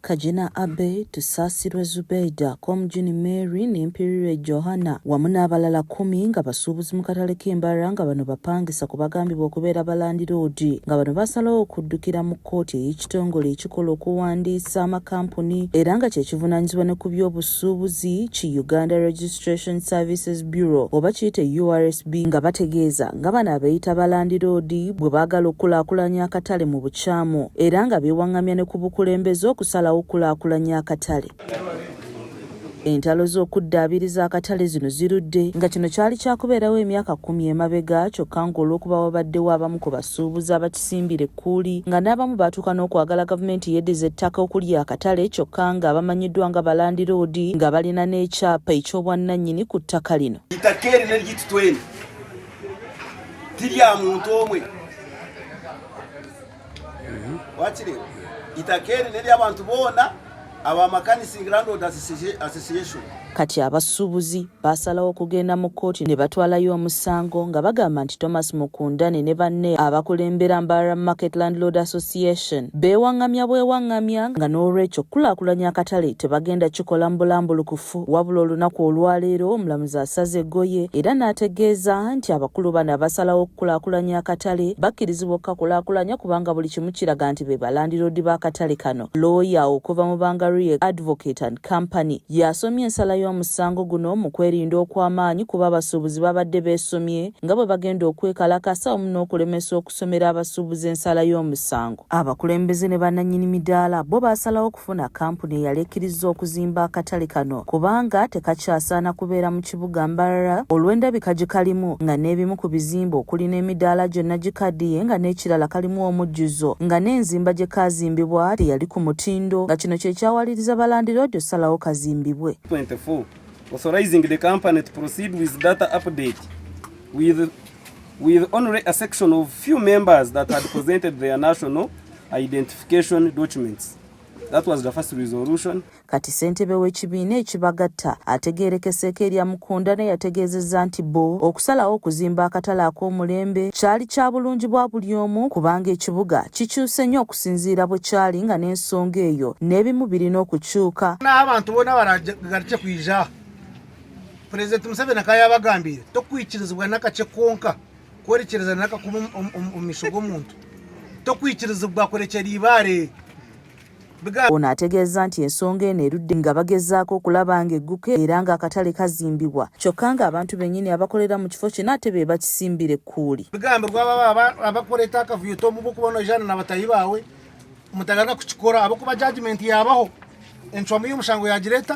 Kagina Abbey, Tusaasirwe Zubedah, Komjuni Mary ne Mpirirwe Johanna wamu n'abalala kkumi nga basuubuzi mu katale k'e Mbarara nga bano bapangisa ku bagambibwa okubeera balandiroodi nga bano baasalawo okuddukira mu kkooti ey'ekitongole ekikola okuwandiisa amakampuni era nga kye kivunaanyizibwa ne ku by'obusu by'obusuubuzi ki Uganda Registration Services Bureau oba kiyite URSB nga bategeeza nga bano abeeyita ba landiroodi bwe baagala okukulaakulanya akatale mu bukyamu era nga beewaŋŋamya ne ku bukulembeze okusalawo okukulaakulanya akatale. Entalo z'okuddaabiriza akatale zino zirudde nga kino kyali kyakubeerawo emyaka kkumi emabega kyokka ng'olw'okuba wabaddewo abamu ku basuubuzi abakisa basimbira ekkuuli nga n'abamu baatuuka n'okwagala gavumenti yeddize ettaka okuli akatale kyokka nga bamanyiddwa nga balandiroodi nga balina n'ekyapa eky'obwannannyini ku ttaka lino ettaka eri ne ligitutweni tirya muntu omwe wakiri itaka eri neryabantu boona Kati abasuubuzi baasalawo okugenda mu kkooti ne batwalayo omusango nga bagamba nti Thomas Mukundane ne banne abakulembera Mbarara Market Landlord Association beewaŋŋamya bwewaŋŋamya nga n'olwekyo okukulaakulanya akatale tebagenda kikola mu bulambulukufu wabula olunaku olwaleero omulamuzi asaze eggoye era n'ategeeza nti abakulu bano abasalawo okukulaakulanya akatale bakkirizibwa okukakulaakulanya kubanga buli kimu kiraga nti be balandiroodi b'akatale kano. looya okuva mu Bangarie Advocate and Company y'asomye ensala y'omusango guno mu kwerinda okw'amaanyi kuba abasuubuzi babadde beesomye nga bwe bagenda okwekalakasa wamu n'okulemesa okusomera abasuubuzi ensala y'omusango. Abakulembeze ne bannannyini midaala bo baasalawo okufuna kkampuni eyali ekkirizza okuzimba akatale kano kubanga tekakyasaana kubeera mu kibuga Mbarara olw'endabika gye kalimu nga n'ebimu ku bizimbe okuli n'emidaala gyonna gikaddiye nga n'ekirala kalimu omujjuzo nga n'enzimba gye kaazimbibwa teyali ku mutindo nga kino kye kyawaliriza balandiroodi okusalawo kazimbibwe. 24, authorizing the company to proceed with data update with with only a section of few members that had presented their national identification documents. That was the first resolution. Kati ssentebe w'ekibiina ekibagatta ategeerekeseeko erya Mukundane yategeezezza nti bo okusalawo okuzimba akatale ak'omulembe kyali kya bulungi bwa buli omu kubanga ekibuga kikyuse nnyo okusinziira bwe kyali nga n'ensonga eyo n'ebimu birina okukyuka n'abantu bona baragarukye kwija pulezidenti museveni akaba yabagambire tokwikirizibwa n'akace konka kwerekereza n'akakuba omu misho g'omuntu tokwikirizibwa kurekyera ibaare Ono ategeezza nti ensonga eno erudde nga bagezaako okulaba nga egguka era nga akatale kazimbibwa kyokka nga abantu bennyini abakolera mu kifo kino ate be bakisimbira ekkuuli bigambibwa baba abakuleeta akavuyo tomuba okuba nojaana na batayi baawe mutagaga kukikora abakuba jajimenti yabaho encwamu y'omusango yagireeta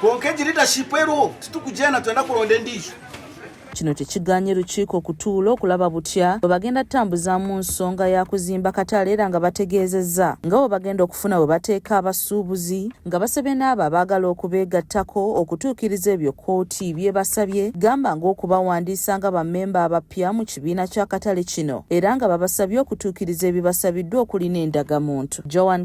konka egi leadership eriwo titukujena twenda kulonda endiijo kino kyekiganye lukiiko okutuula okulaba butya bwe bagenda tutambuzaamu nsonga ya kuzimba katale era nga bategeezezza nga bwe bagenda okufuna we bateeka abasuubuzi nga basabye n'abo abaagala okubeegattako okutuukiriza ebyo kkooti byebasabye gamba ng'okubawandiisa nga bammemba abapya mu kibiina ky'akatale kino era nga babasabye okutuukiriza ebibasabiddwa okuli n'endagamuntu joan